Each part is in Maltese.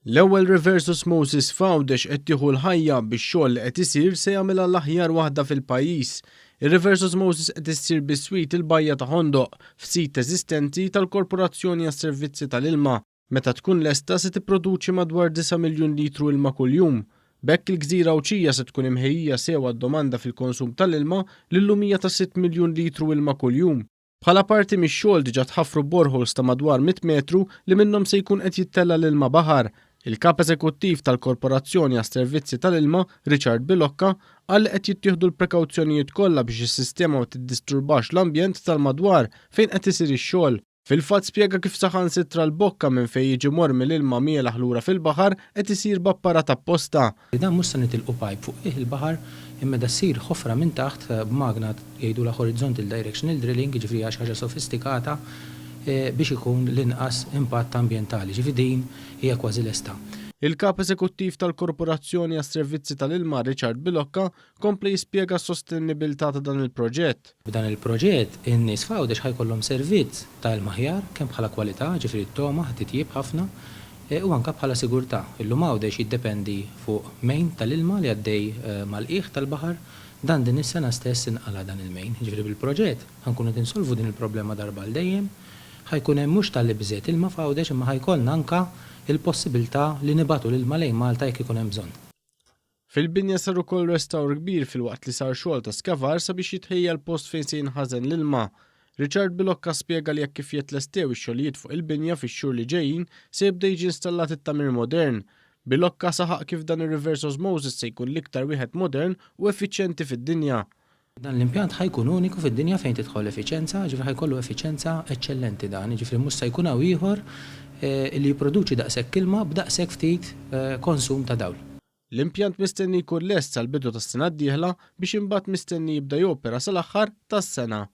L-ewwel reverse osmosis f'Għawdex qed tieħu l-ħajja bix-xogħol li qed isir se jagħmilha l-aħjar waħda fil-pajjiż. Ir-reverse osmosis qed issir biswit il-Bajja ta' Ħondoq, f'sit eżistenti tal-Korporazzjoni għas-Servizzi tal-Ilma. Meta tkun lesta se tipproduċi madwar disa' miljun litru ilma kuljum. B'hekk il-gżira Għawdxija se tkun imħejjija sew għad-domanda fil-konsum tal-ilma li llum hija ta' sitt miljun litru ilma kuljum. Bħala parti mix-xogħol diġà tħaffru boreholes ta' madwar 100 metru li minnhom se jkun qed jittella' l-ilma baħar. Il-Kap Eżekuttiv tal-Korporazzjoni għas-Servizzi tal-Ilma, Richard Bilocca, qal li qed jittieħdu l-prekawzjonijiet kollha biex is-sistema ma tiddisturbax l-ambjent tal-madwar fejn qed isir ix-xogħol. Fil-fatt spjega kif saħansitra l-bokka minn fejn jiġi mormi l-ilma mielaħ lura fil-baħar qed isir b'apparat apposta Li dan mhux se nitilqu pajp fuq qiegħ il-baħar imma da ssir ħofra minn taħt b'magna jgħidulha horizontal directional drilling, jiġifieri hija xi ħaġa sofistikata biex ikun l-inqas impatt ambjentali, jiġifieri din hija kważi lesta. Il-Kap Eżekuttiv tal-Korporazzjoni għas-Servizzi tal-Ilma Richard Bilocca Kompli jispjega s-sostennibilità ta' dan il-proġett. B'dan il-proġett, in-nies f'Għawdex ħa jkollhom servizz ta' ilma aħjar kemm bħala kwalità, jiġifieri t-togħma ħa titjieb ħafna, u anke bħala sigurtà. Illum Għawdex jiddependi fuq main tal-ilma li għaddej mal-qiegħ tal-baħar. Dan din is-sena stess inqala' dan il-main. Jiġifieri bil-proġett ħa nkunu qed insolvu din il-problema darba għal dejjem. Ħa jkun hemm mhux ta' l-ibżgħet ilma f'Għawdex imma ħa jkollna anke l-possibiltà li nibagħtu l-ilma lejn Malta jekk ikun hemm bżonn. Fil-binja sar ukoll restawr kbir filwaqt li sar xogħol ta' skavar sabiex jitħejja l-post fejn se jinħażen l-ilma. Richard Bilocca spjega li hekk kif jetlestew ix-xogħlijiet fuq il-binja fix-xhur li ġejjin se jibda jiġi installat it-tagħmir modern. Bilocca saħaq kif dan ir-reverse osmosis se jkun l-iktar wieħed modern u effiċjenti fid-dinja. Dan l-impjant ħa jkun uniku fid-dinja fejn tidħol l-effiċenza, jiġifieri ħa jkollu effiċenza eċċellenti dan, jiġifieri mhux se jkun hawn ieħor li jipproduċi daqshekk ilma b'daqshekk ftit konsum ta' dawl. L-impjant mistenni jkun lest sal-bidu tas-sena d-dieħla biex imbagħad mistenni jibda jopera sal-aħħar tas-sena.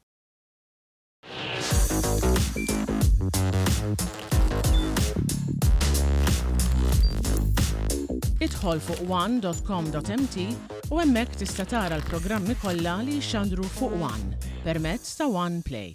Idħol fuq one.com.mt u hemmhekk tista' tara l-programmi kollha li jxandru fuq One permezz ta' One Play.